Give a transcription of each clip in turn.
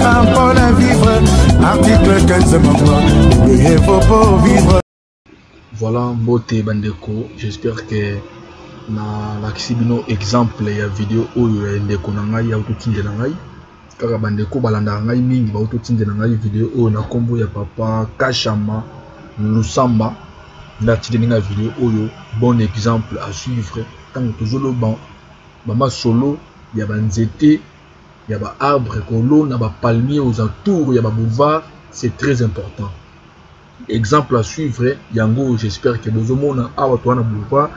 Apona vivre, article 15 membre, il faut pas vivre. Voilà, mbote bandeko, j'espère que nalakisi bino exemple ya video oyo ya ndeko na ngai ya kotindela ngai kaka bandeko balandaka ngai mingi bauti otindela ngai video oyo na nkombo ya papa kashama lusamba nde atindeli ngai video oyo bon exemple à suivre ntango tozoloba bamasolo ya banzete ya ba arbre kolona ba palmier aux entours ya ba boulevard c'est très important exemple à suivre yango j'espère que bozomona awa toa na boulevard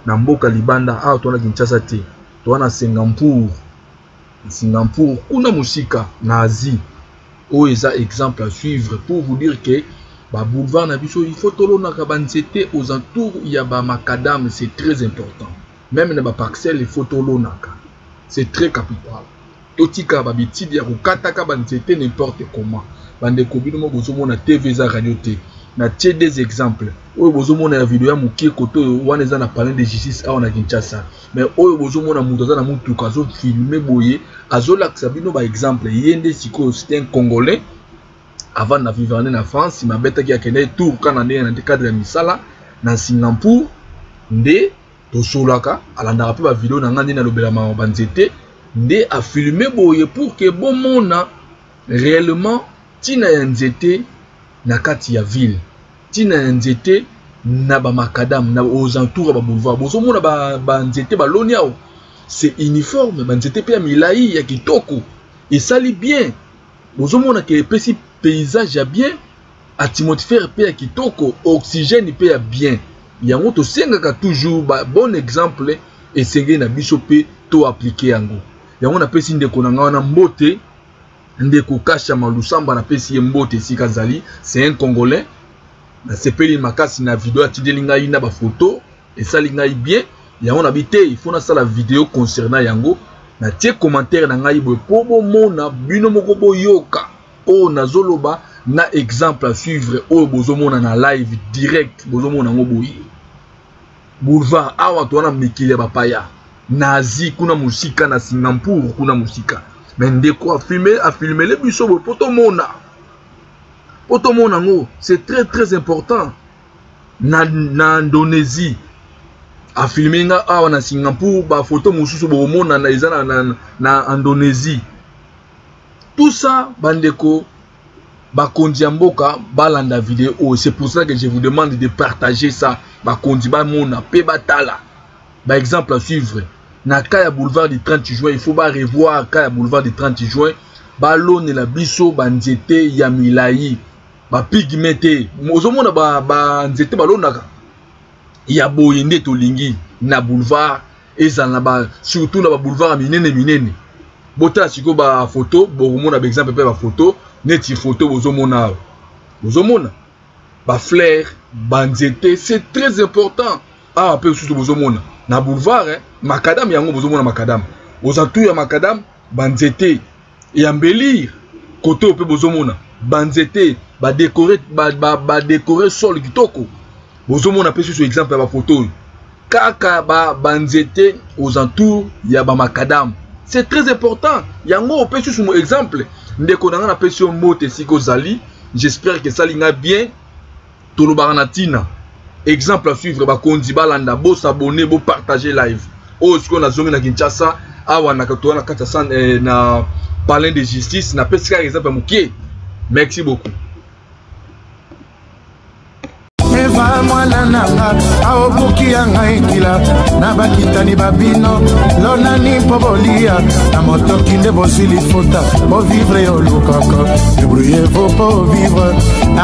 na mboka libanda awa toa na kinshasa te toa na singapour singapour kuna mosika na asie oyo eza exemple à suivre pour vous dire que ba boulevard na biso il faut tolonaka banzete aux entours ya ba macadame c'est très important meme na ba parcelle il faut tolonaka c'est très capital totika ba bitidi ya kokataka ba nzete n'importe comment bandeko bino mo bozomona tv eza radio te na tie des exemples oyo bozomona ya video ya mokie kote oyo wana eza na palin de justice awa na kinshasa mais oyo bozomona moto aza na motuka azofilme boye azolakisa bino baexemple ye nde sikoyo c'est un congolais avant na vivane na france mabetaki akendaki tour kana nde na cadre ya misala na singapour nde tosolaka alandaka mpe bavideo na ngai nde nalobelamaka banzete nde afilme boye pour ke bomona réellement ntina ya nzete na kati ya ville ntina ya nzete na bamakadame na aux entours ya baboulevard bozomona banzete ba baloni awa c'est uniforme banzete mpe ya milai ya kitoko esali bien bozomona ke epesi paysage ya bien atmosphère mpe ya kitoko oxygène mpe ya bien yango tosengaka toujours ba bon exemple esengeli na biso mpe to aplike yango yango napesi ndeko na ngai wana mbote ndeko kasha malusamba napesi ye mbote esika azali c'est un congolais nasepeli makasi na video atindeli ngai na bafoto esali ngai bien yango nabi te il faut nasala video concernant yango natie commentaire na ngai boye mpo bomona bino moko boyoka oyo nazoloba na exemple à suivre oyo bozomona na live direct bozomona yango boye boulevard awa towana mikili ya bapaya na asie kuna mosika na singapour kuna mosika me ndeko afilmele biso boye mpo tomona mpo tomona yango c'est très très important na, na indonésie afilme nga awa na singapour bafoto mosusu bokomonana eza na, na, na indonésie tout ça bandeko bakonzi ya mboka balanda video oyo c'est pour ça que je vous demande de partager ça bakonzi bamona mpe batala baexemple à suivre na cas ya boulevard du 30 juin il faut barevoir cas ya boulevard du 30 juin balonela biso banzete ya milai bapigme te ozomona banzete ba balonaka ya boye nde tolingi na boulevard ezala na ba surtout na ba boulevard ya minene minene botala sikoyo bafoto bokomona baexemple mpe bafoto neti foto bozomona awa bozomona bafleur banzete c'est très important awa mpe mosusu bozomona na boulevard eh, makadame yango bozomona makadame ozantu ya makadame banzete et embellir kote oyo mpe bozomona banzete badekore ba, ba, ba, ba sol kitoko bozomona mpe susu exemple ya bafoto oyo kaka banzete ba aux entours ya bamakadame c'est très important yango opesi susu mo exemple ndeko na ngai napesi yo mbote esika ozali j'espère que esali ngai bien tolobaka na tina exemple à suivre bakonzi balanda bo s'abonner bo partager live oyo sikoyo nazongi na kinshasa awa na toa na kati ya san eh, na palin de justice napesi kaka exemple ya mokie merci beaucoup eva mwana nanga aobuki ya ngai kila na bakitani babino lonani mpo bolia na motoki nde bozwi lifuta bovivre olukaka debrouillez-vous pour vivre